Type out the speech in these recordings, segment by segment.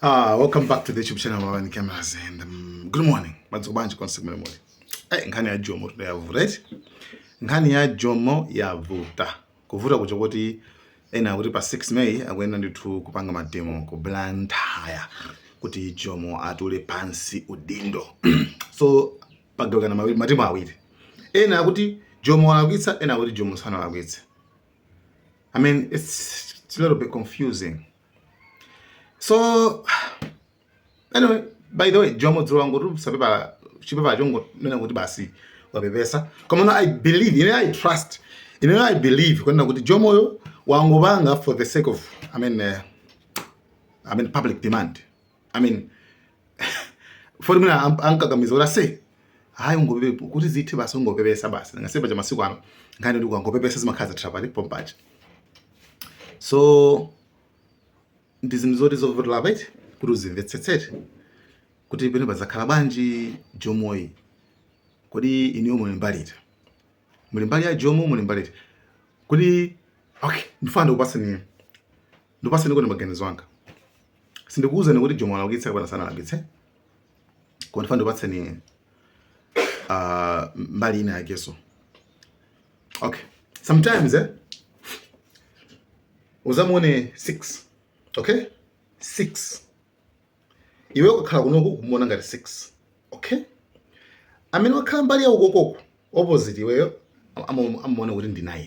Ah, welcome back to the YouTube channel Wawa and Cameras and um, good morning. Mwadzuka bwanji konse kumene muli. Eh, nkhani ya Jomo today yavuta, right? Nkhani ya Jomo yavuta. Kuvuta kwake kuti ena akuti pa 6 May akuyenda ndithu kupanga mademo ku Blantyre kuti Jomo atule pansi udindo. so pagawikana matimu awiri. Ena akuti Jomo alakwitsa, ena akuti Jomo sanalakwitse. I mean, it's, it's a little bit confusing. so anyway by the way jomo dzuwa ngotu sapepala chipepala chongonena kuti basi wapepesa koma no i believe ine i trust ine no i believe kunena kuti jomoyo wangopanga for the sake of i mean uh, i mean public demand i mean poti mwina am- ankakamiza kuti ase hayi ungopepesa kuti zithe basi ungopepesa basi ngati paja masiku ano nkhani ndi kuti ukangopepesa zimakhala zatha basi pompaja so ndi zinthu zoti zovuta right kuti uzimvetsetsete kuti penapa zakhala bwanji jomoyi kodi inuyo muli mbali iti muli mbali ya jomo muli mbali iti kodi okay ndifuna ndikupatseni ndipatseni kuti maganizo anga sindikuwuzani kuti jomo alakwitsa kapena sanalakwitse koma ndifuna ndikupatseni uh, mbali ina yakeso okay sometimes eh, uzamuone 6 okay 6 iwe ukakhala kunoku kumuona ngati 6 okay amene wakhala mbali ya ukokoko opposite iweyo amamuona kuti ndi 9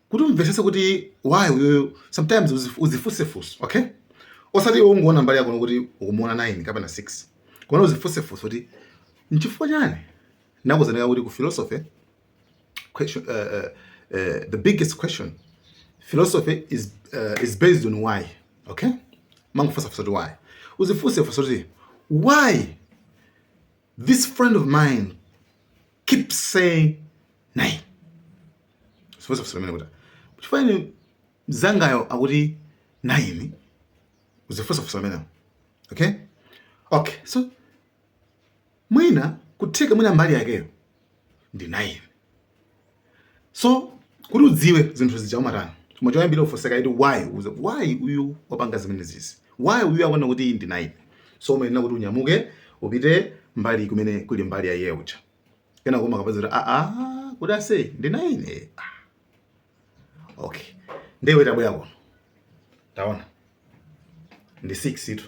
kuti umvetsetse kuti why uyoyo sometimes uzif- uzifunse funso okay osati iwe ungoona mbali yako kuti ukumuona 9 kapena 6 koma uzifunse funso kuti nchifukwa chani nakuzaneka kuti ku philosophy question, uh, uh, uh, the biggest question philosophy is, uh, is based on why okay umangofunsa funso kuti why uzifunse funso kuti why This friend of mine keep saying nayini uzifunse funso limenelo kuti chifukwa chani mzangayo akuti nayini uzifunse funso limenelo okay okay so mwina kutheka mwina mbali yakeyo ndi nayini so kuti udziwe zinthu zija umatani koma choyambirira ufunse kaye kuti why uza why uyu wapanga zimene zizi why uyu akuona kuti iyi ndi nine so umayenera kuti unyamuke upite mbali kumene kuli mbali ya iye uja kenako umakapeza kuti aa kuti ase ndi nine ah, Okay. Nde iwe tabwera kuno. Taona. Ndi 6 itu.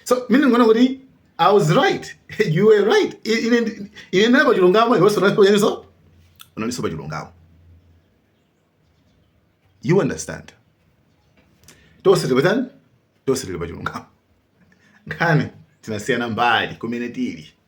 So, mumangoona kuti I was right. you were right. Ine ndinali pa chilungamo iwenso nawenso. Unalinso pa chilungamo. You understand? Tonse tinatani? Tonse tili pa chilungamo. Nkhani tinasiyana mbali kumene tili.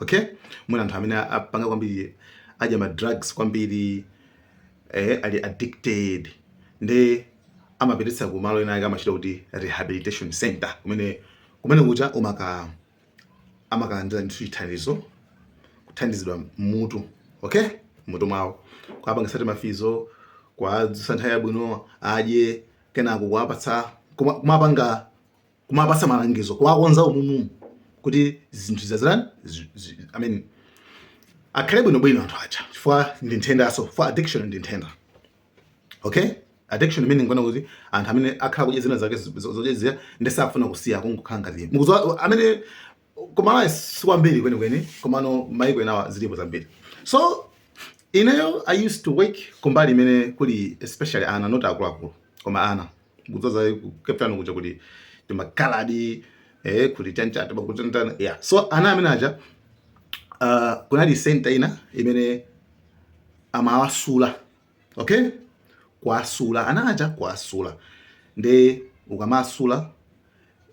okay mwina anthu amene apanga kwambiri adya ma drugs kwambiri eh, ali addicted nde amapititsa ku malo ena ake amachita kuti rehabilitation center kumene kumene kuja umaka amakalandira ndithu chithandizo kuthandizidwa mmutu okay mmutu mwawo kuapangisa timafizo kuadzutsa nthawi yabwino adye kenako kuapatsa kumapatsa malangizo kuwakonza umumu kuti zinthu zazirani I mean akhale bwinobwino anthu aja chifukwa ndi nthendanso for addiction ndi nthenda okay addiction meaning kunena kuti anthu amene akhala kudya zina zake zoledzera nde sakufuna kusiya kungokhala ngati mukudziwa amene kumalawi sikwambiri kwenikweni komano maiko enawa zilipo zambiri so ineyo i used to work kumbali imene kuli especially ana not akuluakulu koma ana kuzaza ku Cape Town kuja kuti timakaladi eh, kuti chanichani pakutantana yeah. so ana amene aja uh, kunali senta ina imene amawasula okay kuwasula ana aja kuwasula nde ukamasula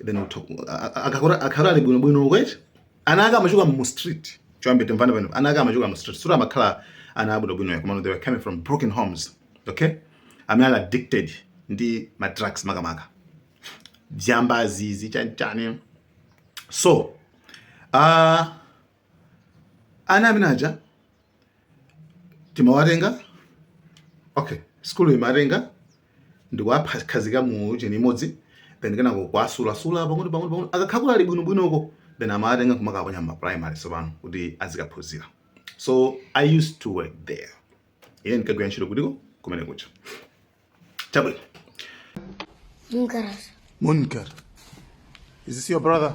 then akhala ali bwino bwino kwete ana ake amachoka mu street choyamba timvane pano ana ake amachoka mu street sura amakhala ana abwino bwino koma they were coming from broken homes okay amene ali addicted ndi ma drugs makamaka zambazi zichanichani so uh, ana amene aja timawatenga okay sikulu imatenga ndikuwakhazika mu cheni imodzi then kenako kuwasulasula pang'ono pang'ono pang'ono akakhala ali bwinobwino uko then amawatenga kumakaponya mma primary sopano kuti azikaphunzira so i used to work there ine ndinkagwira ntchito kutiko kumene kuja chabwino Munkar. Munkar. Is this your brother?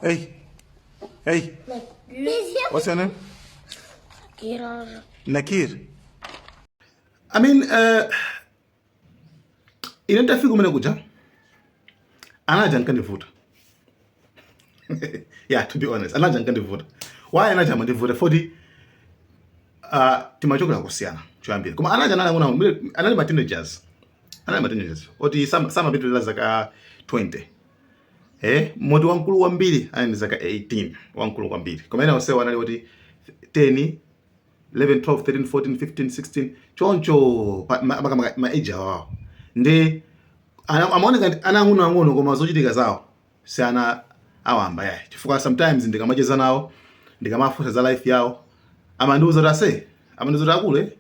Hey. Hey. What's your name? Nakir. Nakir. I mean, uh, ine nditafika kumene kuja anaja ankandivuta yeah to be honest anaja ankandivuta why anaja amandivuta foti uh, timachokera kosiyana choyambirira koma anaja anali ang'ono ang'ono anali ma teenagers anali ma teenagers oti samapitira zaka 20 Eh, moti wamkulu kwambiri anali ndi zaka 18, wamkulu kwambiri. Koma ena onsewo anali oti 10, 11, 12, 13, 14, 15, 16 choncho makamaka ma age awawo nde amaoneka ana ang'ono ang'ono, koma zochitika zawo si ana awamba yayi, chifukwa sometimes ndikamacheza nawo ndikamafunsa za life yawo amandiuza kuti ase amandiuza kuti akule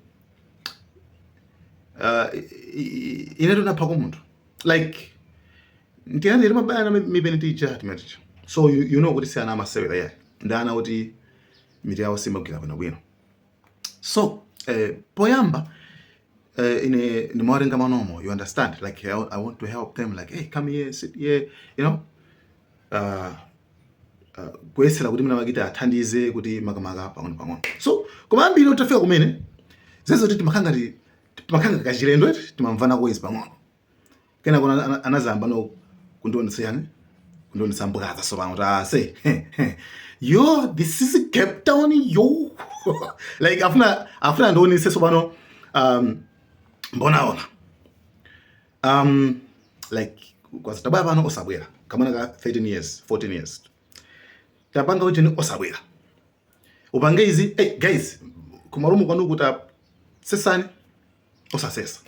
uh, inetu naphako munthu like ndi ana a mabaya na mipeni tija timaticha so you, you know kuti si ana amasewera yayi ndi ana kuti mitu yawo simagwira bwinobwino so eh, poyamba eh, ine ndimawatenga manomo you understand like I, I want to help them like hey come here sit here you know uh, uh, kuyesera kuti mwina ndikawathandize kuti makamaka pang'ono pang'ono so koma ambiri titafika kumene zija zoti timakhala ngati timakhala kachilendo eti timamvana koyamba pang'ono kenako ana- ana- anazayambano kundionetsa chani kundionetsa mbwaza tsopano kuti aise yo this is cape town yo like afuna afuna andionetse tsopano um, mbonaona um, like kuti tabwera pano osabwera kamwana ka 13 years 14 years atapanga kuti osabwera upange izi hey, guys kumalumu kwanu kuta sesani osasesa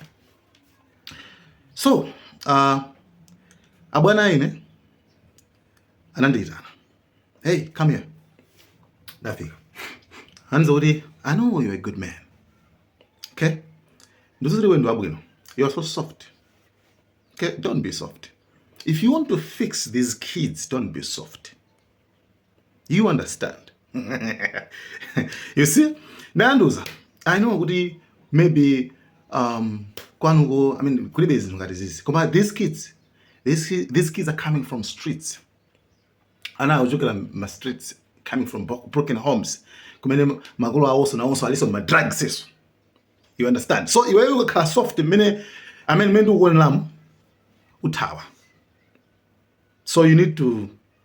so uh, abwana ine anandiitana hey come here ndafika anza kuti i know you're a good man okay ndiziri wendo wabwino you are so soft okay don't be soft if you want to fix these kids don't be soft you understand you see anandiuza i know kuti maybe um, kwanuko i mean kulibe zinthu ngati zizi koma these kids these, these kids are coming from streets ana akuchokera ma streets coming from broken homes kumene makolo awonso nawonso alinso mma drugs iwonso you understand so iweyo ukakhala soft mmene amene mmene ndikukuoneramu uthawa so you need to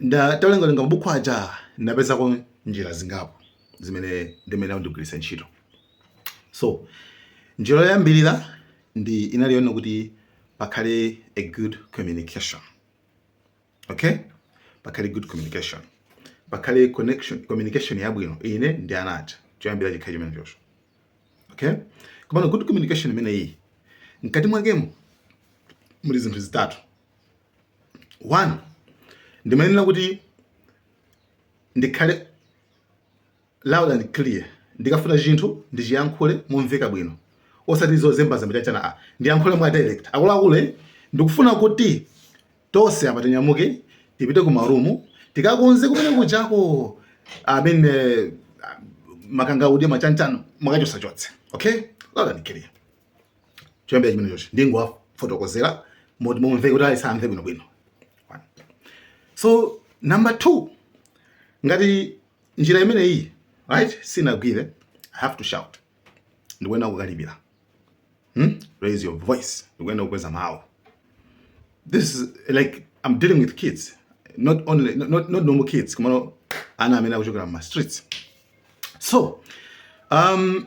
Ndatawerengawerenga mabuku aja ndinapezako njira zingapo zimene ndimayenera ndigwiritse ntchito. So njira yoyambirira ndi inali yonena kuti pakhale a good communication. Okay? Pakhale good communication. Pakhale communication yabwino ine ndi ana aja. Choyambira chikhale chimenechocho. Okay? Komano good communication imeneyi mkati mwakemo muli zinthu zitatu. one ndimayenera kuti ndikhale loud and clear ndikafuna chinthu ndichiyankhule momveka bwino osati zozembazemba chanichani ayi ndiyankhule mwa direct akuluakulu eh, ndikufuna kuti tonse apa tinyamuke tipite ku marumu tikakonze kumene kujako amene ali makangaude ma chanichani mukachotsechotse okay loud and clear choyambira chimenechocho ndingowafotokozera momveka kuti aliyense amve bwinobwino so number two ngati njira imeneyi right sinagwire i have to shout ndikuyenera kukalipira hmm? raise your voice ndikuyenera kukweza mawu this is like i'm dealing with kids not only not, not normal kids komano ana amene akuchokera mma streets so um,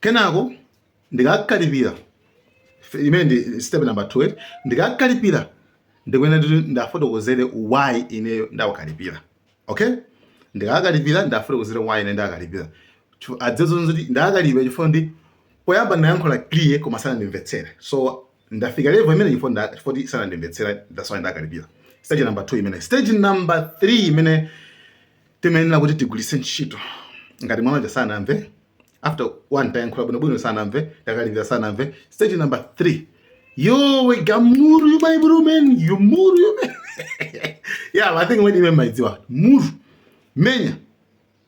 Kenako ndikakalipira, imene ndi step number 2 eti, ndikakalipira ndikuyenera kuti ndiwafotokozere why ineyo ndawakalipira. Okay? Ndikakalipira ndiwafotokozere why ine ndawakalipira. Adziwe zonena kuti ndakalipira chifukwa choti poyamba ndinayankhula clear koma sanandimvetsere. So ndafika level imene chifukwa chifukwa sanandimvetsere that's why ndakalipira. Stage number 2 imene. Stage number 3 imene timayenera kuti tigwiritse ntchito ngati mwana uja sanamve after one tayankhula bwinobwino sanamve takalipira sanamve stage number three yowe gamuru you my bro man you muru you man yeah i think when mumaidziwa muru menya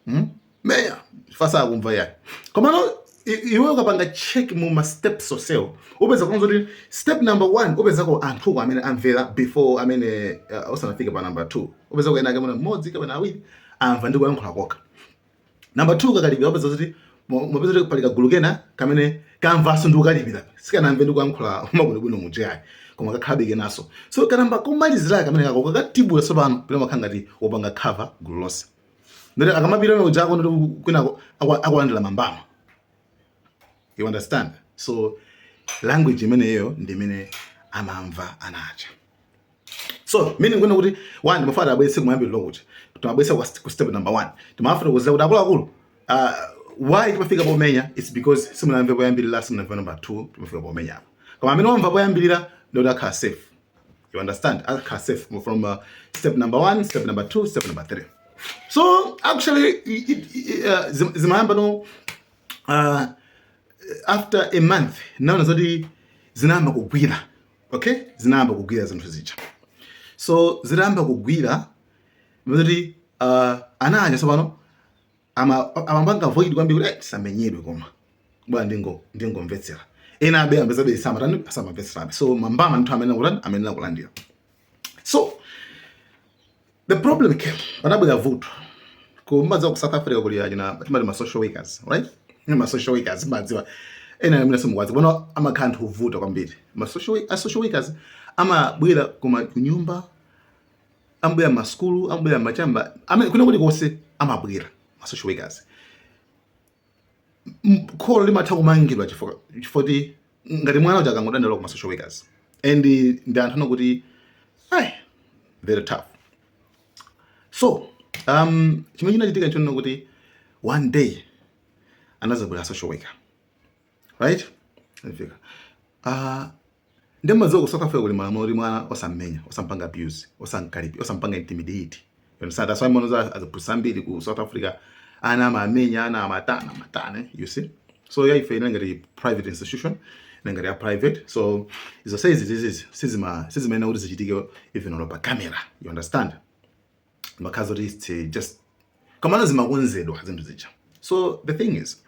hmm? menya fasa akumva ya koma no iwe ukapanga check mu ma steps onsewo upezako zoti step number 1 upezako anthu ko amene amvera before amene uh, osanafika pa number 2 upezako wina wake mwina mmodzi kapena awiri amva ndi kuyankhula kokha Namba 2 ukakalipira upeza kuti mupeza kuti pali kagulu kena kamene kamvanso ndi kukalipira sikanamve ndi kuyankhula makuti bwino muja yayi koma kakhalabe kenanso so kanamba komalizira kamene kaja kakatibula tsopano pena umakhala ngati wopanga cover gulu lonse ndiye kuti akamapita na ujako ndiye kuti kwinako akulandira mambama you understand so language imeneyo ndi imene amamva ana aja so meaning kunena kuti one timafuna tiwabweze kumayambiriro kuti timawabweza ku step number one timafuna kuwauza kuti akuluakulu uh, why timafika pomenya its because simunamve poyambirira simunamve number two timafika pomenyapo koma amene wamva poyambirira ndiye kuti akhala safe you understand akhala safe from uh, step number one step number two step number three so actually uh, zimayamba no uh, after a month naona zoti zinayamba kugwira okay zinayamba kugwira zinthu zija so zitayamba kugwira kuti uh, ana aja tsopano amapanga avoid kwambiri kuti eh, ndisamenyedwe koma bola ndingo ndingomvetsera enabe amapezekabe samatani asamamvetserabe so mambama ndithu amenena akutani amenena akulandira so The problem came, panabwera vuto mumadziwa ku South Africa kuli achina timati ma social workers, right? Ma social workers mumadziwa ena amene simukuwadziwa kuno amakhala anthu ovuta kwambiri. Ma social a social workers amabwera kuma kunyumba amabwera ma school amabwera machamba amene kwina kulikonse amabwera ma social workers. m- kholo limatha kumangidwa chifukwa chifukwa kuti ngati mwana uja akangodandaula kuma social workers and ndi anthu onena kuti ai very tough so um, chimene chinachitika nchonena kuti one day anadzabwera social worker right Anafika. Ah, Nde mumadziwa ku South Africa kuli malamulo oti mwana osam'menya, osam'panga abuse, osam'kalipila, osam'panga intimidate. You understand? That's why mumaona aziphunzitsi ambiri ku South Africa ana amamenya, ana amatana, amatana, you see? So ya ife inali ngati private institution, inali ngati ya private. So izo sizi sizi sizima sizimayenera kuti zichitike even olo pa camera. You understand? zimakhala zoti it's eh, just komano zimakonzedwa zinthu zija so the thing is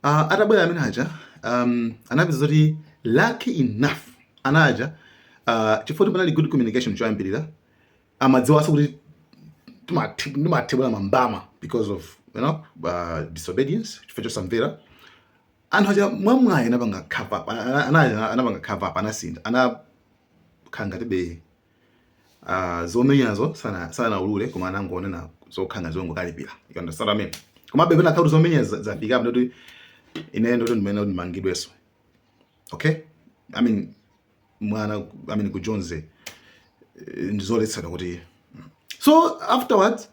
uh, atabwera amene aja um, anapeza zoti lucky enough ana aja uh, ah, chifukwa panali good communication choyambirira amadziwanso kuti ndimathibula mambama because of you know, uh, disobedience chifukwa chosamvera anthu aja mwamwayi anapanga cover up anapanga cover up anasintha anakhala ngatibe uh, zomenyazo sana sanaulule koma anangonena zokhala ngati zongokalipira you understand what I mean koma maybe panakhala kuti zomenya zafika apo ndoti ine ndoti ndimayenera kuti ndimangidwenso okay i mean mwana i mean ku Jonzi eh, ndizoletsedwa kuti so afterwards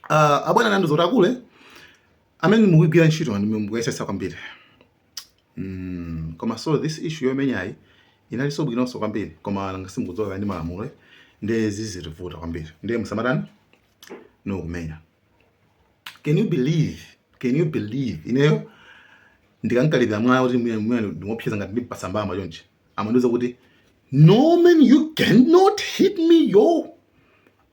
Uh, abwana anandiuza kuti akulu amene mukugwira ntchito ndi mukuyesesa kwambiri mm, koma so this issue yomenyayi inalinso bwinonso kwambiri koma nanga si mukudziwa kuti ndi malamulo nde zizitivuta kwambiri ndiye musamatani no kumenya can you believe can you believe ineyo ndikam'kalipira mwana kuti ndimuopseza ngati ndim'pasa mbama chonchi amandiuza kuti no man you cannot hit me yo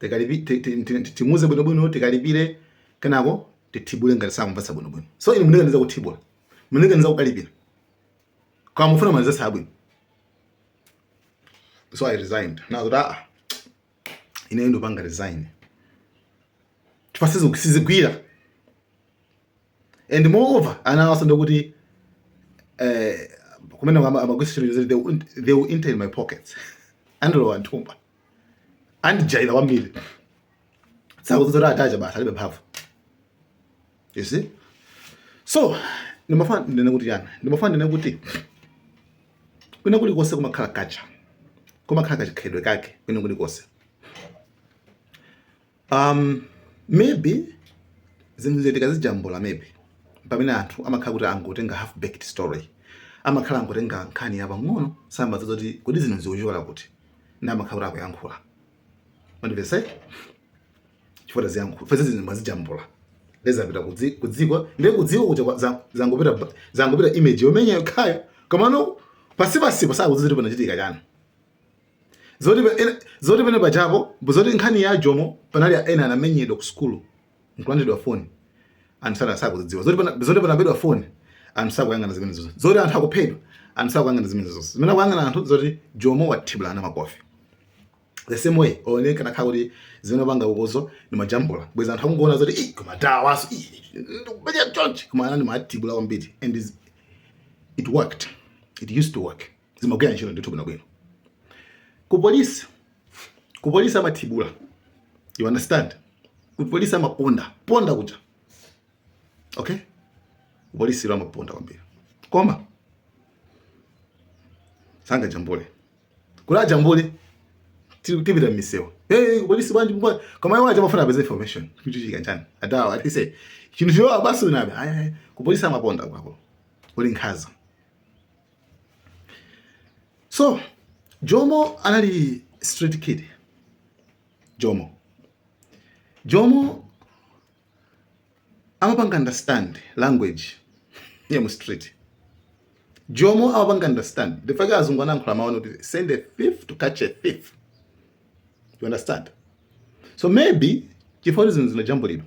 tikalipi- ti- ti- ti- ti- timuuze bwinobwino tikalipire kenako tithibule ngati sakumvetsa bwinobwino so inu mundikaniza kuthibula mundikaniza kukalipira koma mufuna ma results abwino so i resigned ndinawauza kuti aa ineyo ndikupanga resign chifukwa sizi- sizigwira and moreover ana awaso ndikuti eh, kumene amagwisa chinthu they will- they will enter in my pockets andilowa m'thumba andijaira kwambiri akudziwa zoti aticha basi alibe mphamvu you see so ndimafuna ndinene kuti yani ndimafuna ndinene kuti kwina kulikonse kumakhala kacha kumakhala kachikhalidwe kake kwina kulikonse Um, maybe zinthu izi tikazijambula maybe pamene anthu amakhala kuti angotenga half baked story amakhala angotenga nkhani yapang'ono sadziwa zoti kodi zinthu zikuchokera kuti nde amakhala kuti akuyankhula mundimvetse chifukwa taziyankhula fese zinthu mwazijambula nde zapita kudziko ndiye kudziko kuja zangopita zangopita image yomenya yokhayo komano pansipansipo sakudziwa zoti panachitika chani zoti pa- ena- zoti pene pachapo zoti nkhani ya jomo panali ena anamenyedwa ku sukulu nkulandidwa foni anthu sana- sakuzidziwa zoti pana- zoti panabedwa foni anthu sakuyang'ana zimene zonse zoti anthu akuphedwa anthu sakuyang'ana zimene zonse zimene akuyang'ana anthu zoti jomo wathibulana makofi the same way only kana kha kuti zimene apanga ukozo ndimajambula bweza anthu akungoona zoti "Ih, koma dawaso ndikupeja chonchi koma anani amathibula kwambiri and is- it worked it used to work zimagwira ntchito ndithu bwinobwino ku polisi ku polisi amathibula you understand ku polisi amaponda ponda kuja okay ku polisi amaponda kwambiri koma sangajambule kuwajambula tipita mmisewa hey polisi bwanji mbwa koma iwo aja pofuna kupeza information kuti chikanjani adawa atise chinthu chiwa basi unabe ku polisi amaponda kwako kuli nkhaza so jomo anali street kid jomo jomo amapanga understand language ya mu street jomo amapanga understand the fact azungu analankhula mawu kuti send a thief to catch a thief you understand so maybe chifukwa zinthu zinajambulidwa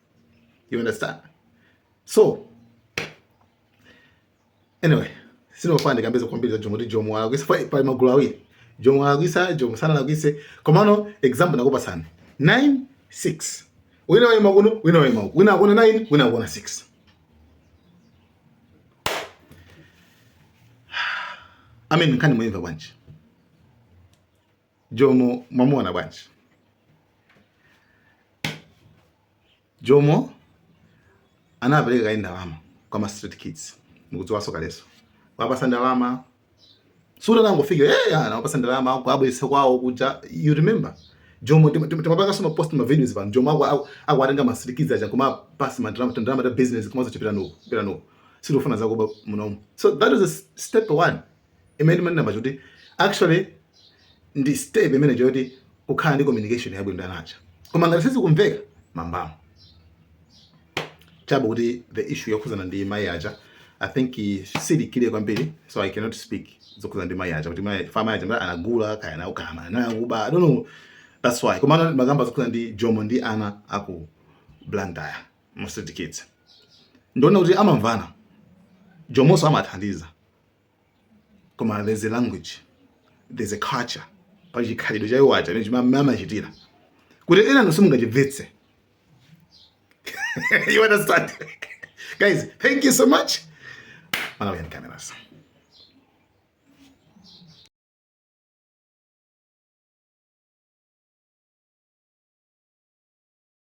You understand? So anyway, sindifuna ndikambe kwambiri za Jomo kuti Jomo alakwisa pali magulu awiri. Jomo alakwisa, Jomo sanalakwise. Komano example ndakupatsani. 9 6. Wina waima kuno, wina waima uko. Wina akuona 9, wina akuona 6. I mean, nkhani mwaimva bwanji? Jomo mwamuona bwanji? Jomo anapereka kaye ndalama kwa ma street kids, mukudziwaso kaleso wapasa ndalama suda nangofika eh hey, ana wapasa ndalama kwabwesa kwawo kuja you remember Jomo timapanga soma post ma videos pano Jomo ako akwatenga ma street kids aja kuma pass ma drama drama da business kuma zochipira nuko pira nuko sirofuna zako munomo so that is a step one imene ndimanena paja kuti actually ndi step imene choti kukhala ndi communication yabwino ndi ana aja koma ngati sizikumveka mwinamwake chabe kuti the issue yokhudzana ndi mayi aja i think eh, sindikudziwa kwambiri so i cannot speak zokhudzana ndi mayi aja kuti mayi fama aja mara anagula kaya nawo kaya anakuba i don't know that's why koma amakamba zokhudzana ndi jomo ndi ana aku blantyre mostly the kids ndiona kuti amamvana jomonso amathandiza koma there's a language there's a culture pa chikhalidwe cha iwo aja chimene amachitira kuti enanu simungachimvetse you understand guys thank you so much malawian cameras